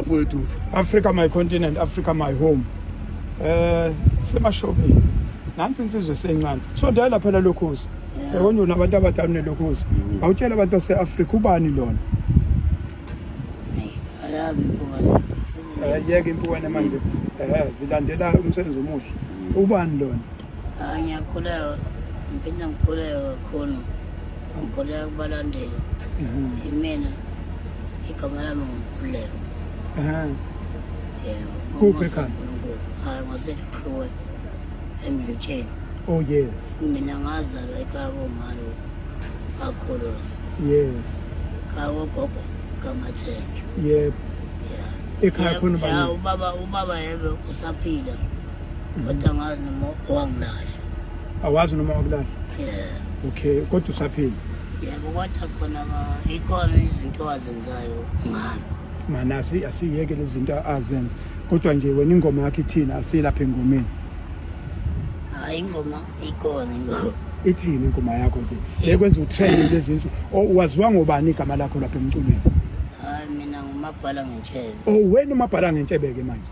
Wethu. Africa my continent, Africa my home. Eh semashopini. Nansi insizwe sencane. So dala phela lokhozi. Yabona una abantu abadala nelokhozi. Mm. Awutshela abantu baseAfrica ubani lona? Alabi bukana. Eh yeke impukane manje. Eh zilandela umsebenzi omuhle. Mm. Ubani lona? Ah, ngiyakholelwa ngiphinde ngikholelwa kakhulu ngikholelwa kubalandeli imina igama lami ngikhululeka yebo Kuphi ekhanda? hayi ngasehlukwe emlutsheni oh yes mina ngazalwa ekhaya komalo kakhuluzi yes kawogogo kamathenjwa yebo ya Ekhaya khona ubani? ya ubaba ubaba yebe usaphila Kodwa ngazi noma wangilahla. Awazi noma wakulahla? Yeah. Okay, kodwa usaphila. Yebo kodwa khona ikhona izinto azenzayo ngami. Mana asi asiyeke lezi zinto azenza. Kodwa nje wena ingoma yakhe ithina asilapha engomeni. Hayi ingoma ikhona ingoma. Ithini ingoma yakho nje? Bekwenza utrend lezi zinto. Waziwa ngobani igama lakho lapha emculweni? Hayi mina ngumabhala ngentshebe. Oh wena umabhala ngentshebe ke manje.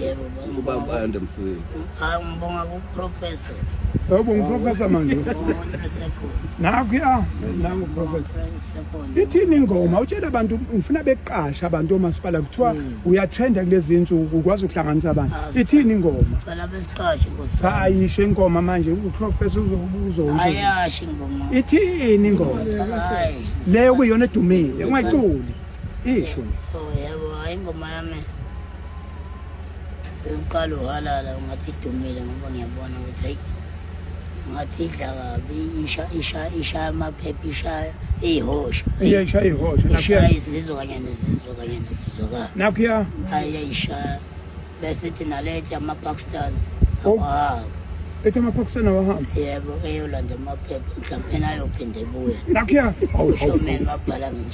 Yebo ubaba ubayanda mfowethu. Hayi ngibonga ku professor. Yebo ngiprofessor manje. Nakho ya nangu professor. Ithini ingoma utshela abantu ngifuna beqasha abantu omasipala kuthiwa hmm. uyathenda kulezi insuku ukwazi ukuhlanganisa abantu. Ah, Ithini ingoma? Sicela besiqashe nkosi. Ayishe ingoma manje uprofessor uzokubuza ukuthi. Ayashe ingoma. Ithini ingoma? Leyo kuyona edumile ungayiculi. Isho. Oh yebo hayi ingoma yami. uqala uhalala ungathi idumile ngoba ngiyabona ukuthi hayi ngathi idla kabi ishaya amaphepha ishaya iyihosha iyayishaya iyihosha ishaya izizwe kanye nezizwe kanye nezizwekayo nakhuya hayi yayishaya bese ithi nalethi amapakistan oh. awahamba ethi amapakistan awahamba yebo eyolanda amaphepha mhlawumbe nayophinde ebuye nakhuya awushomeni babhala ngisho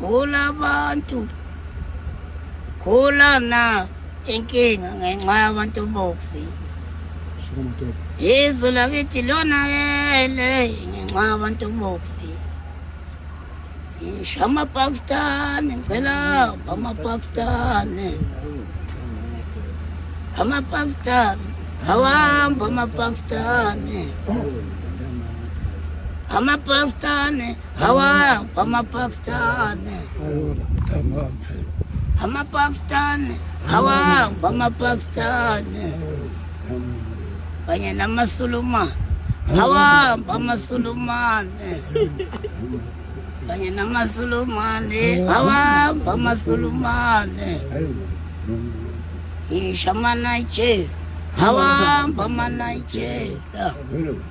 Gula abantu. Gula na inkinga ngenxa yabantu bofi. Sukuma ntombi. Izwe lakithi lona yele ngenxa yabantu bofi. Ngisho amapakistani ngicela amapakistani. Amapakistani awahamba amapakistani. Amapakistani Hawa bamapakistani. Amapakistani. Hawa bamapakistani. Kanye namasulumane. Hawa bamasulumane. Kanye namasulumane. Hawa bamasulumane. Ishamana che. Hawa bamanaijela.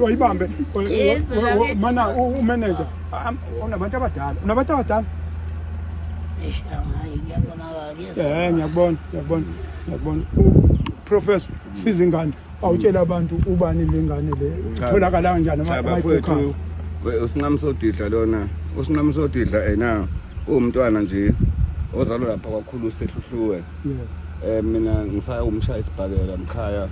wayibambe mana umeneja unabantu abadala unabantu abadala um ngiyakubona ngiyakubona ngiyakubona professor sizingane awutshela abantu ubani lengane le itholakala kanjani bafowethu usinqamsodidla lona usinqamsodidla ena uwumntwana nje ozalwa lapha kwakhulu sehluhluwe yes eh mina ngisaya umshaya isibhakela mkhaya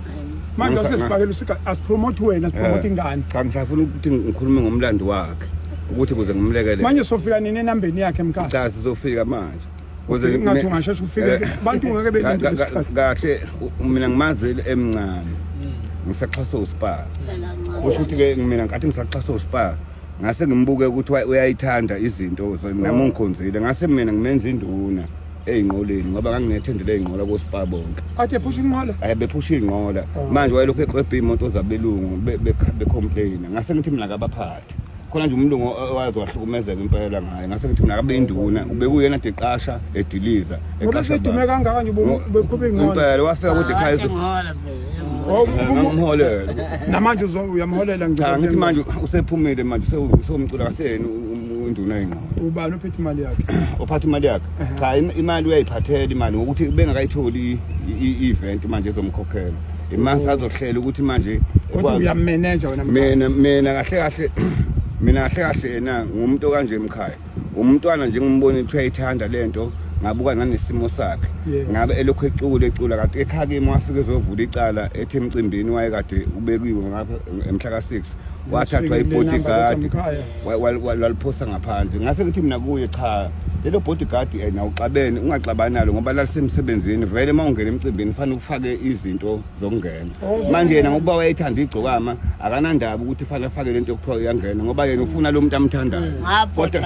manje usesibhakela usika asipromote wena sipromote eh, ingane cha ngisafuna ukuthi ngikhulume ngomlando wakhe ukuthi kuze ngimlekelele manje sofika nini enambeni yakhe mkhaya cha sizofika manje Kuze ngathi ungasheshe ufike eh, abantu ngeke belinde isikhathi. Kahle mina ngimazi emncane. Hmm. Ngisaxhasa uSpar. Kusho ukuthi ke mina ngathi ngisaxhasa uSpar. Ngase ngimbuke ukuthi uyayithanda izinto nami oh. ngikhonzile. Ngase mina ngimenza induna. eyinqoleni ngoba nganginethendele eyinqola koSpar bonke. Athe phusha inqola? Eh bephusha inqola. Oh. Manje wayelokhu eqwebha imoto zabelungu becomplaina. Ngase ngithi mina kabaphali. khona nje umlungu owaze wahlukumezeka impela ngaye ngase ngithi mina kabe induna ubekuyena de qasha ediliza eqasha udume kangaka nje beqhube ingqondo impela wafika kude ekhaya ngamholela namanje uyamholela ngicela ngithi manje usephumile manje usewumcula kaseni induna ingqondo ubani uphethe imali yakhe uphatha imali yakhe cha imali uyayiphathela imali ngokuthi bengakayitholi i-event manje ezomkhokhela Imani oh. sazohlela ukuthi manje kodwa uyameneja wena mina mina kahle kahle mina kahle kahle yena ngumuntu kanje emkhaya umntwana nje ngimbona ukuthi uyayithanda lento ngabuka nanesimo sakhe ngabe elokhu ecula ecula kade ekhakimi wafike ezovula icala ethi emcimbini wayekade ubekiwe ngapha emhla ka-6 wathathwa ibodyguard waliphosa ngaphandle ngase ngithi mina kuye cha lelo bodyguard eh, na uxabene ungaxabani nalo ngoba lalisemsebenzini vele uma ungena emcimbini fanele ufake izinto zokungena oh. manje yena ngokuba wayethanda igcokama akanandaba ukuthi fanele afake lento yokuthiwa uyangena ngoba yena ufuna lo muntu amthandayo kodwa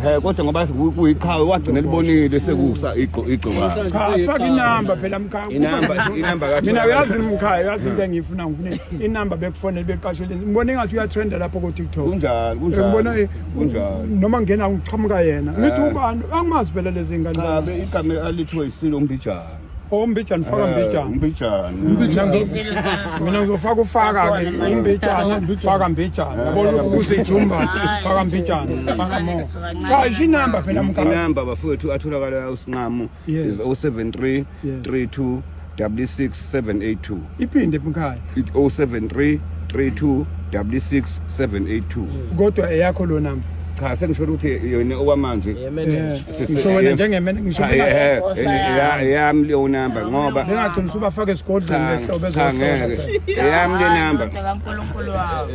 eh, kodwa ngoba kuyiqhawe wagcina libonile sekusa igcokama inamba phela mkhaya inamba inamba kathi mina uyazi mkhaya uyazi into engiyifuna ngifuna inamba bekufonele beqasheleni ngibona engathi uyatrenda lapho kotiktok kunjalo kunjalobona eh, kunjalo noma ngena ngiqhamuka yena eh. ngithi ubani angimazi phela lezi ngane ngabe igama alithiwe isilo umbijana ombijana oh, faka mbijana umbijana eh, umbijana mina ngizofaka ufaka ke umbijana faka mbijana yabona ukuthi ijumba faka mbijana faka mo cha ishinamba phela mkhaya inamba bafowethu atholakala usinqamo Yes. is 073 Yes. 32 66 782 iphinde mkhaya It 073 32 66 782 kodwa eyakho lo namba cha sengisholo ukuthi yona okwamanje Yeah, manager. Eh, ngisho wena njengemene ngisho Cha, benga- eh, Nkosi eh, yami. ya- yami leyo namba ngoba bengagcina usubafaka esigodlweni cha, lehlobo cha, ezohlola ngeke eyami le namba Kodwa kaNkulunkulu wami.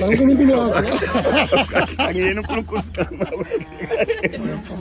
uNkulunkulu wakho angiyena uNkulunkulu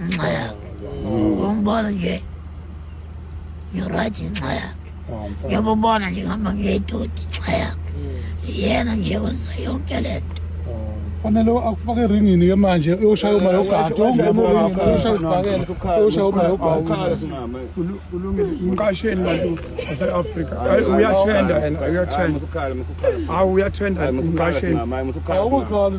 ngenxa yakhe umbona nje ngirayithi ngenxa yakhe ngiyabubona nje ngihamba ngiyedodi ngenxa yakhe yena nje wenza yonke le nto fanele akufake eringini ke manje uyoshaya uma yogadi uyoshaya isibhakela uyoshaya uma yogadi umqasheli bantu base-afrika uyathenda yena uyathenda hawu uyathenda umqasheli awukukhali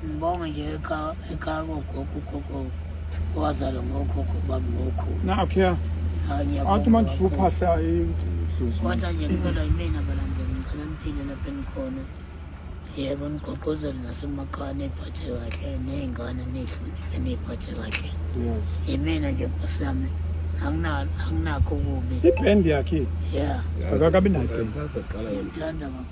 Sibonge nje ekhaya ekhaya kogogo ugogo owazalwa ngokhokho bami ngokhulu. Nakho ya. Athi manje usuphahla idlozi. Kodwa nje kuphela yimina balandela ngicela niphile lapha engikhona. Yebo nigqogqozele nasemakhaya niphathe kahle ney'ngane nihloniphe niyiphathe kahle. Yes. Yimina nje sami anginakho kubi. Ibhendi yakhe. Yeah. Akakabi nayo. Ngiyamthanda kakhulu.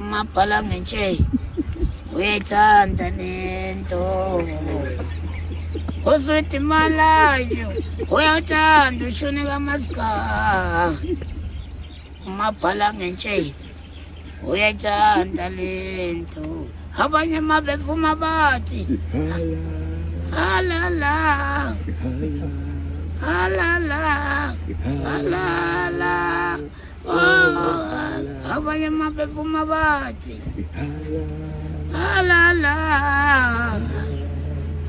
Umabhala ngentsheyi uyayithanda lento uswidi malayo uyawuthanda ushuni kamasika umabhala ngentsheyi uyayithanda lento abanye uma bevuma bathi halala halala halala abanye mabephuma bathi halala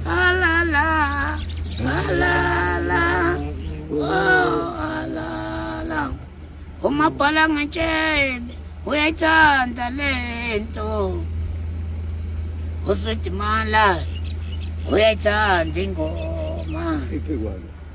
halala halala halala umabhala ngetshebe uyayithanda le nto usudimala uyayithanda ingoma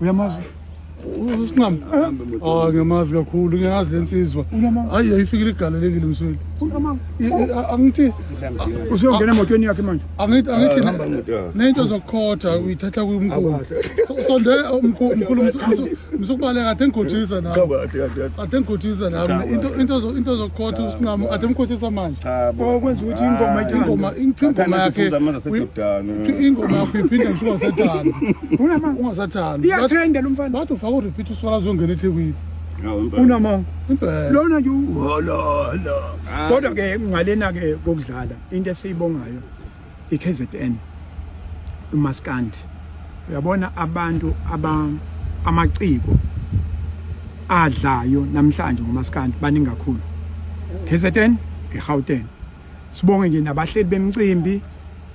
uyamazi usinqamu ah ngiyamazi kakhulu ngiyazi lensizwa hayi ayifikile igalelekile msweli angithi usuyongena emotweni yakhe manje angithi angithi ah, nento zokukhotha uyithatha kumkhulu sonde umkhulu msukubaleka athe ngikhothisa nami athe ngikhothisa nami into into into zokukhotha usinqamu athe ngikhothisa manje cha bo okwenza ukuthi ingoma Ah, ingoma ingoma Bathanda yakhe ukuphuza amanzi aseJordani. uyi- ingoma yakho iphinde ngisho ungasathandi Unama- ungasathandi iyatrenda lo mfana bathi ufaka urepeat uswala azongena ethekwini Hawu, impela. unamanga impela lona nje uhololo Ah. kodwa ke ngalena ke kokudlala into esiyibongayo iKZN umaskandi uyabona abantu aba amaciko adlayo namhlanje ngomaskandi baningi kakhulu KZN eGauteng sibonge nje nabahleli bemcimbi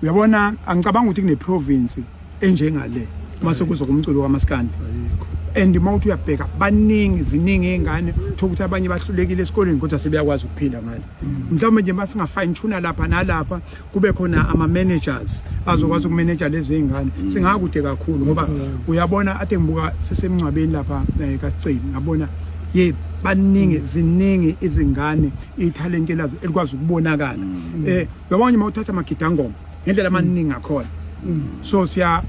uyabona angicabanga ukuthi kune province enjengale uma sekuzo kumculo kamaskandi and uma uthi uyabheka baningi ziningi iy'ngane thola ukuthi abanye bahlulekile esikoleni kodwa sebeyakwazi ukuphila ngale mm. mhlawumbe nje uma singa-fine tuna lapha nalapha kube khona ama-managers azokwazi ukumeneja lezi ngane mm. singakude kakhulu ngoba mm. uyabona ade ngibuka sisemngcwabeni lapha eh, kasiceli ngabona ye baningi mm. ziningi izingane ithalente lazo elikwazi ukubonakala um eh, uyabona nje uma uthatha amagidangoma ngendlela amaningi akhona so siya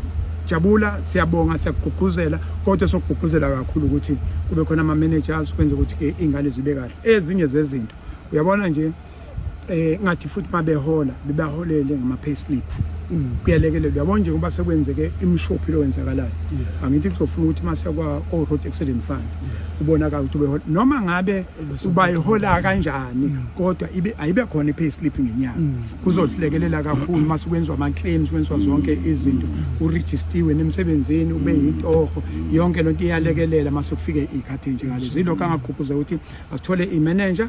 jabula siyabonga siyakugqugquzela kodwa sokugqugquzela kakhulu ukuthi kube khona ama-managers kwenze ukuthi-ke iy'ngane zibe kahle ezinye zezinto uyabona nje eh ngathi futhi mabehola bebaholele ngama payslip mm. kuyalekelela yabona nje ngoba sekwenzeke imshophi lo wenzakalayo angithi kuzofuna ukuthi mase kwa o road accident fund ubona ka ukuthi behola noma ngabe ubayihola kanjani mm. kodwa ibe ayibe khona i payslip ngenyanga mm. kuzodlekelela kakhulu mase kwenzwa ama claims kwenzwa zonke izinto u registiwe nemsebenzini ube yintoho yonke lonto iyalekelela mase kufike ikhathi nje ngalezo ilokho angaqhuphuza ukuthi asithole i manager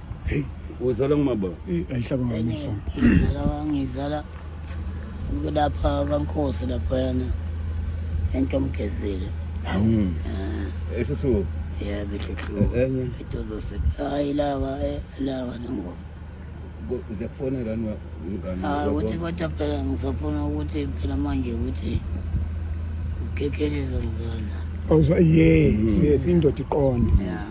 Hey, uzala ngumaba. Eh, ayihlaba ngamehlo. Ngizala wangizala kulapha kaNkosi lapha yana. Ento mgezile. Hawu. Eh. Ehluhluko. Yeah, behluhluko. Eh, enye. Itozo se. Hayi lawa, eh, lawa nongoma. Ngiyakufonela nwa ngani. Ah, ukuthi kodwa phela ngisafuna ukuthi phela manje ukuthi ugekeleza ngizona. Awuzwa yes, yes indoda iqonde. Yeah.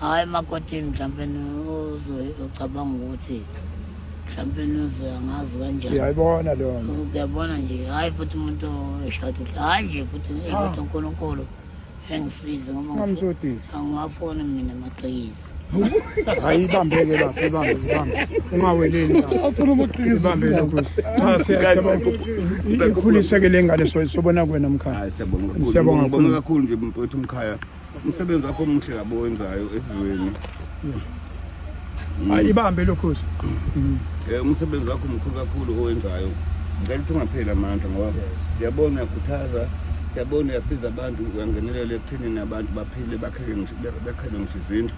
hhayi emakotini mhlawumpe ucabanga ukuthi mhlawumpe uze angazi kanjani uyayibona leyo nto uyabona nje hhayi futhi umuntu eshada uhle hhayi nje futhi ukuthi unkulunkulu engisize ngoba ngamsodisi angiwafoni mina amaqiniso hayi ibambeke lapho ibambe ibambe ungaweleli afuna umaqiniso ibambe lokho cha siyacela ikhuliseke le ngane sobona kwena mkhaya siyabonga kakhulu nje mfowethu mkhaya umsebenzi wakho omuhle kabi owenzayo esizweni hayi ibambe lokhozi um umsebenzi wakho mkhulu kakhulu owenzayo ngicela ukuthi ungapheli amandla ngoba siyabona uyakhuthaza siyabona uyasiza abantu uyangenelela ekuthenini abantu baphile bakhele ngisho izindlu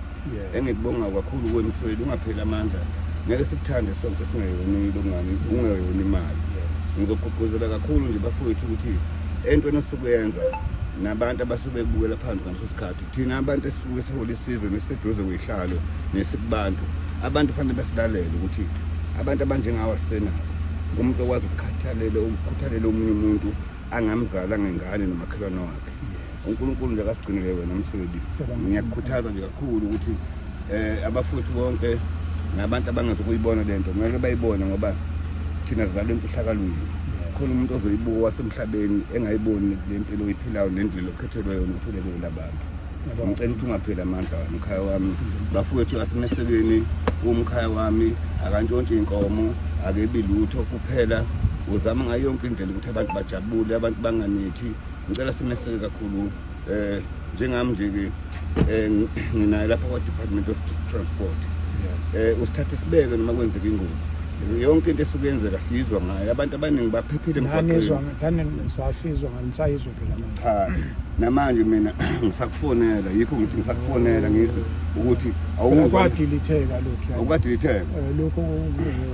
engikubonga kakhulu kuwe mfweli ungapheli amandla ngeke sikuthande sonke singeyoni longani ungeyoni imali ngizogqugquzela kakhulu nje bafowethu ukuthi entweni osuke yenza nabantu abasuke bebukela phansi ngaleso sikhathi thina abantu esisuke sihola isizwe nesiseduze kweyihlalo nesikubantu abantu fanele basilalele ukuthi abantu abanjengawo asena umuntu okwazi ukukhathalela ukukhuthalela omunye umuntu angamzala ngengane nomakhelwane wakhe uNkulunkulu nje akasigcinele wena msweli ngiyakukhuthaza nje kakhulu ukuthi eh abafowethu bonke nabantu abangazi ukuyibona lento ngeke bayibone ngoba thina sizalwe emfihlakalweni khona umuntu ozoyibuka wasemhlabeni engayiboni le mpilo oyiphilayo nendlela okhethelwe yona ukuthi ulekele labantu ngicela ukuthi ungapheli amandla wami mkhaya wami bafowethu asemesekeni umkhaya wami akantshontshi inkomo akebi lutho kuphela uzama ngayo yonke indlela ukuthi abantu bajabule abantu banganithi ngicela simeseke kakhulu um eh, njengami nje-ke um nginaye lapha kwa-department of transport um usithathe sibeke noma kwenzeka ingozi yonke into esuke yenzeka sizwa ngayo abantu abaningi baphephile emgwaqenisasizwa nganisayizwa phela cha namanje mina ngisakufonela yikho ngithi ngisakufonela ngizwe ukuthi awukadilitheka lokhu awukadilitheka eh, lokhu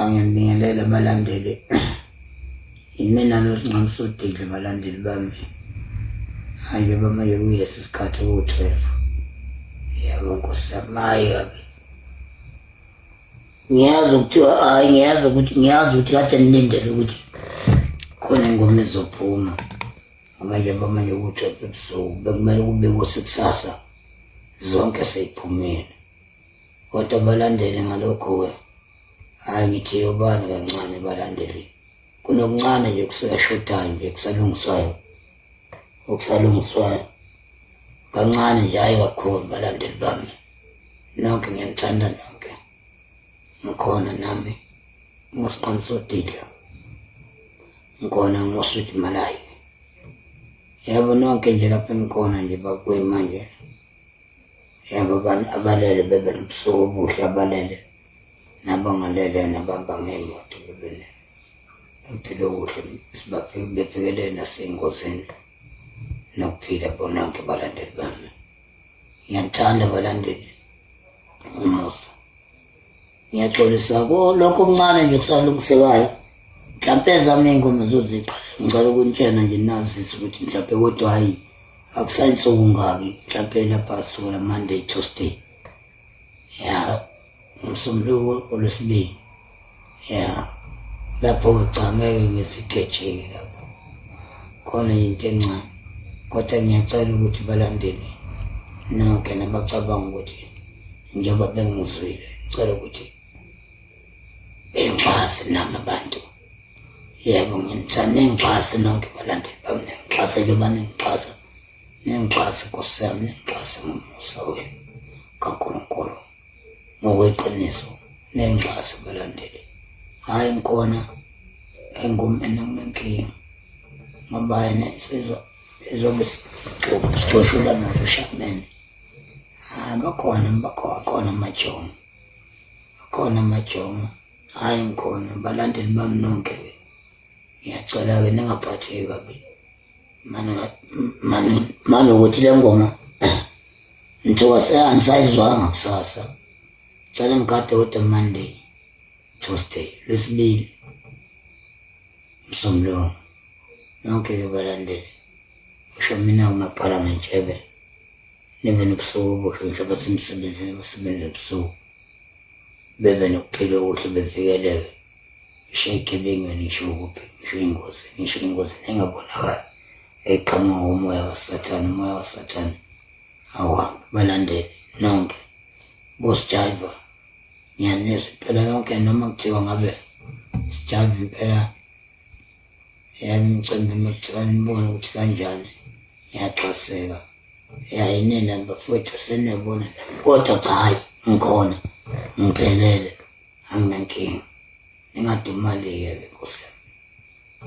angibingelele abalandeli yimina losinqamsudile balandeli bami hanje bamanje kuyilesi sikhathi kuwu-twelve yabo nkosi yamayi kabi ngiyazi ukuthi hayi ngiyazi ukuthi ngiyazi ukuthi kade nilindele ukuthi khona ingoma ezophuma ngoba nje bamanje ukuthi ebusuku bekumele kubekwe sekusasa zonke seyiphumile kodwa balandele ngalokhu-ke hhayi ngithiye ubani kancane balandele kunokuncane nje kusashodayo nje kusalungiswayo okusalungiswayo kancane nje hhayi kakhulu balandeli bami nonke ngiyanithanda nonke ngikhona nami ngosiqamusodidla ngikhona ngoswidi malayo yebo nonke nje lapho engikhona nje bakuyi manje Yebo abantu abalele bebe nobusuku obuhle abalele nabangalele nabamba ngey'moto bebe nokuphila okuhle bebhekelele nasey'ngozini nokuphila bononke balandeli bami. Ngiyanithanda balandeli umusa. ngiyaxolisa kulokho okuncane nje kusalungisekayo mhlampe ezami iy'ngoma zoziqala ngicela ukunitshena nje nazise ukuthi mhlampe kodwa hhayi akusayinsuku ngaki mhlampe lapha sukela monday tuesday ya ngomsombuluko olwesibili ya lapho-ke cha ngeke ngizigejeke lapho khona yinto encane kodwa ngiyacela ukuthi balandele nonke nabacabanga ukuthi njengoba bengizwile ngicela ukuthi bengixhase nami abantu yebo nginithanda ningixhase nonke balandeli bami ningixhase njengoba ningixhasa ningixhase nkosi yami ningixhase ngomusa wenu kankulunkulu ngokweqiniso ningixhase balandeli hhayi ngikhona engumene kunenkinga ngoba yena isizwa ezobe sixoshula nazo ushamene Ah, bakhona bakhona akhona amajongo akhona amajongo hayi ngikhona balandeli bami nonke ke ngiyacela ke ningaphatheki kabi mani mani mani ukuthi le ngoma ngithiwa seyangisayizwanga kusasa cela ngigade kodwa monday tuesday lwesibili msombuluko nonke ke balandeli Ngisho mina uma bhala ngentshebe nibe nobusuku obuhle ngisho abasemsebenzini abasebenza ebusuku bebe nokuphila okuhle bevikeleke ngisho ey'gebengwini ngisho kuphi ngisho iy'ngozi ngisho engozini engabonakali eqhamuka ngomoya kasathane umoya kasathane awuhambe balandele nonke bosijayiva ngiyanizwa impela yonke noma kuthiwa ngabe sijayiva impela yami ngicela noma kuthiwa nibone ukuthi kanjani ngiyaxaseka ya inene bafowethu seniyabona nami kodwa cha hhayi ngikhona ngiphelele anginankinga ningadumali-ke ke nkosi yami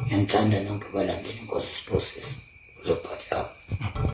ngiyanithanda nonke balandeli inkosi siphosisi uzophathama